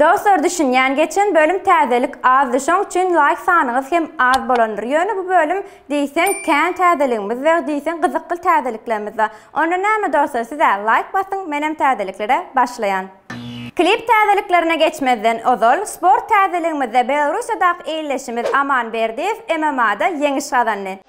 Dostlar düşünýän geçen bölüm täzelik azdy şoň üçin laýk sanyňyz hem az bolandyr ýöne bu bölüm diýseň kän täzeligimiz we diýseň gyzykly täzeliklerimiz bar onda näme dostlar sizä laýk basyň menem täzeliklere başlaýan. Klip täzeliklerine geçmezden ozal sport täzeligimizde Belorussiýadaky ildeşimiz Aman Berdiýew MMA-da ýeňiş gazandy.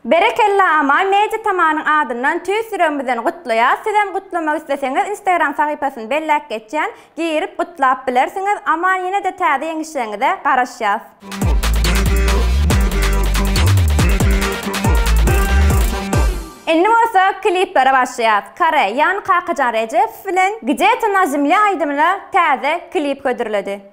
Berekella Amal Media Tamanyň adyndan tüýs ýüregimizden gutlaýas sizem gutlamak isleseňiz instagram sahypasyny belläp geçýän girip gutlap bilersiňiz Amal ýenede täze ýeňişleriňize garaşýas. Indi bolsa kliplere başlaýas Kare ýany Kakajan Rejepow bilen Gde-to na zemlye aýdymyna täze klip hödürledi.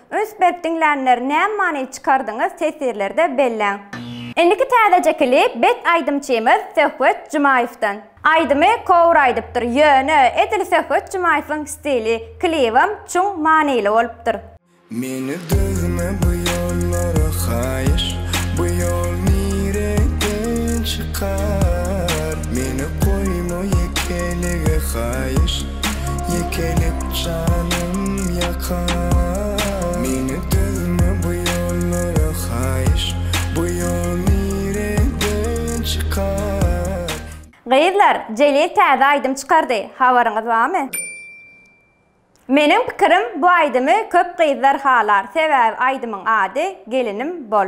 Üns berip diňlänler näme many çykardyňyz tesirlerde belläň. Indiki täzeje klip bet aýdymçymyz Söhbet Jumaýewden. Aýdymy kowr aýdypdyr ýöne edil Söhbet Jumaýewiň stili, klibem çuň manyly bolupdyr. Meni düzme bu ýollara haýyş Bu ýol nireden çykar Meni goýma ýekelige haýyş. Ýekelik janym ýakar Meni düzme bu ýollara haýyş Bu ýol nireden çykar. Gyzlar, Jelil täze aýdym çykardy, habaryňyz barmy? Meniň pikirim bu aýdymy köp gyzlar halar, sebäbi aýdymyň ady Gelinim bol.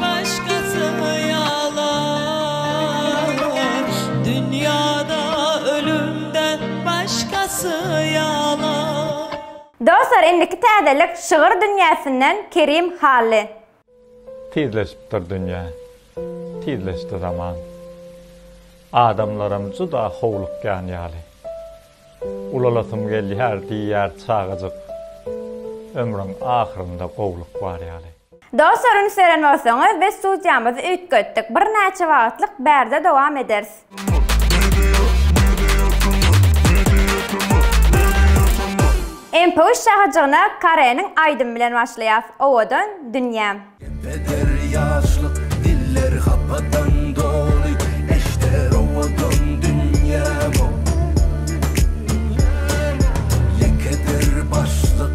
Başgasy ýalan dünýada ölümden başgasy ýalan. Dostlar indiki täzelik şygyr dünýäsinden Kerim Hally. Tizleşipdir dünýä, tizleşdi zaman. Adamlaram juda howlukýan ýaly. Ulalasym gelýär diýýär çagajyk, Ömrüň ahyrynda gowluk bar ýaly. Doslar üns beren bolsaňyz biz studiýamyzy üýtgetdik birnäçe wagtlyk bärde dowam ederis. MP üç şahyjygyna Kareniň aýdymy bilen başlaýas Owadan dünýäm. Eder ýaşlyk diller hapadan doly Eşder owadan dünýäm-ow Ýekedir başlyk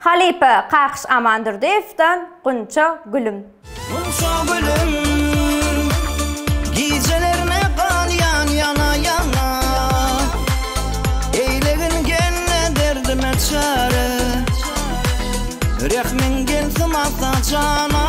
Halypa Kakyş Amandurdyýewden Gunça gülüm. Gunça gülüm, gijelerime gan ýan ýana ýana, Eýlegin gelne derdime çäre, Rehmiň gelsin ata jana.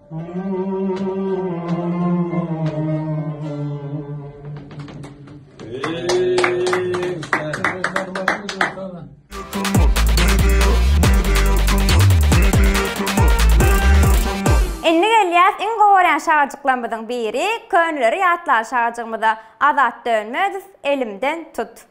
Indi gelýäs iň gowy görýän şagajyklarymyzyň biri, köneleri ýatlaly şagajygymyza, Azat Dönmezow, Elimden tut.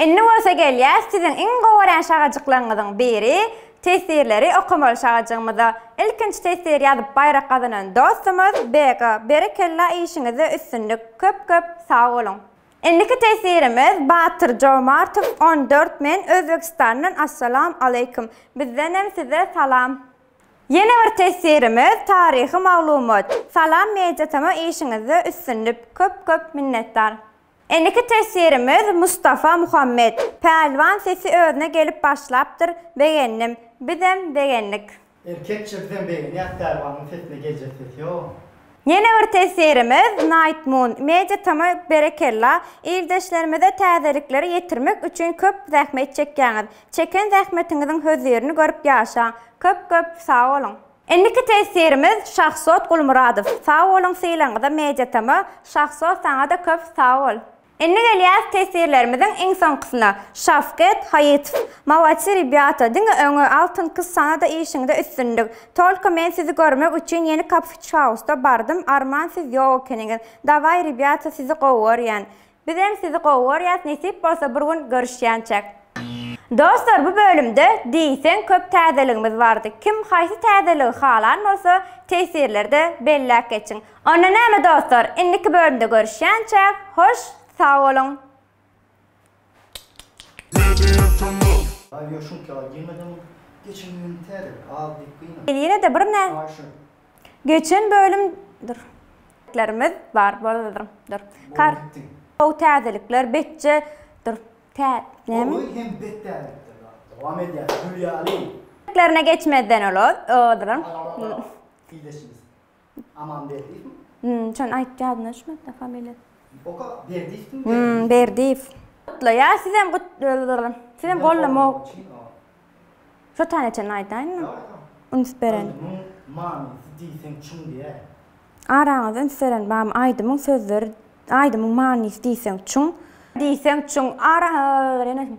Indi bolsa gelýäs siziň iň gowy görän şagajyklaryňyzyň biri teswirleri okamaly şagajygymyza. Ilkinji teswir ýazyp baýrak gazanan dostumyz Bega. Berekella işiňizde üstünlik köp köp sag boluň. Indiki teswirimiz Batyr Jomartow on dört men Özbegistandan Assalam Aleýkum. Bizdenem size salam. Ýene bir teswirimiz taryhy maglumat. Salam media tama işiňizde üstünlik köp köp minnetdar. Indiki teswirimiz Mustafa Muhammet Pälwan sesi özüne gelip başlapdyr begendim bizem begendik. Erkekçe bizem begenýäs Pälwanyň sesine geljek ses ýok. Ýene bir tesirimiz Night Moon Media Tama berekella, ildeşlerimize täzelikleri ýetirmek üçin köp zähmet çekýäňiz. Çeken zähmetiňiziň hözirini görüp ýaşaň. Köp köp sag boluň. Indiki tesirimiz Şahsot Gulmyradow. Sag boluň sylagyňyza Media Tama, Şahsot saňa-da köp sag bol. Indi gelýäs teswirlerimiziň iň soňkusyna. Şawket Haýytow, Molodsy rebýata, diňe öňe, Altyn Kyz saňa-da işiňde üstünlik. Tolko men sizi görmek üçin ýeni kafeçhausda bardym, Arman siz ýok ekeniňiz. Dawaý rebýata sizi gowy görýän. Bizem sizi gowy görýäs nesip bolsa bir gün görüşýänçäk. Dostlar bu bölümde diýseň köp täzeligimiz bardy. Kim haýsy täzeligi halan bolsa teswirlerde belläp geçiň. Onda näme dostlar, indiki bölümde görüşýänçäk, hoş sag boluň! Ýel ýene-de bir nä Geçen bölüm dur. Lerimiz bar boldur dur. Kar how täzelikler betje dur. Tä näme? Oly hem bet täzelikler bar. Dowam edýär. Gül ýaly. Lerine geçmezden olod dur. Fideşimiz. Amanberdiýew mi? Hum, şony aýt ýadyma düşmedi-de familiýasy. Oka Berdiýewmi? Hum, Berdiýew. Gutlaýa, sizem gut sizem gollama ok. Şo taneçeni aýdaýynmy? Üns beren. Aýdymyň manysy diýseň çuň diýäýiň. Araňyzda üns beren barmy? Aýdymyň sözleri Aýdymyň manysy diýseň çuň. Diýseň çuň. Araňyzda üns beren.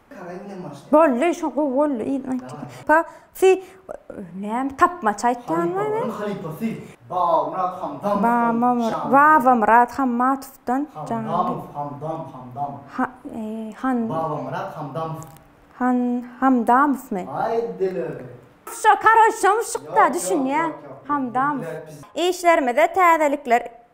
Bolly şu gowy bolly yzyny aýtdyň. Pa sy näme tapmaça aýtýanmy men. Halypasy Babamyrat Hamdamow janly. Babamyrat Hammatowdan janly. Hamdamow Hamdamow Hamdamow. Babamyrat Hamdamow. Han Hamdamowmy. Aý delirdi. Şo karoç şomy şykda düşünýän Hamdamow. Işlerimize täzelikler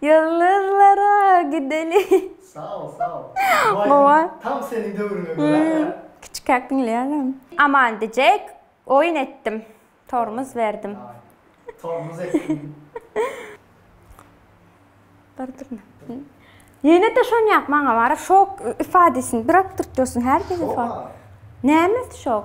Ýyldyzlara gideli. Sag bol, sag bol. Bu aýdym tam seniň döwrüňe görä ýa. Kiçikäk diňleýärin. Aman dejek oýun etdim. Tormuz berdim. Tormuz etdim. Ýene-de şonýak maňa baryp şok ifadesin bir otdurtdyrsyn her defa. Näme şok?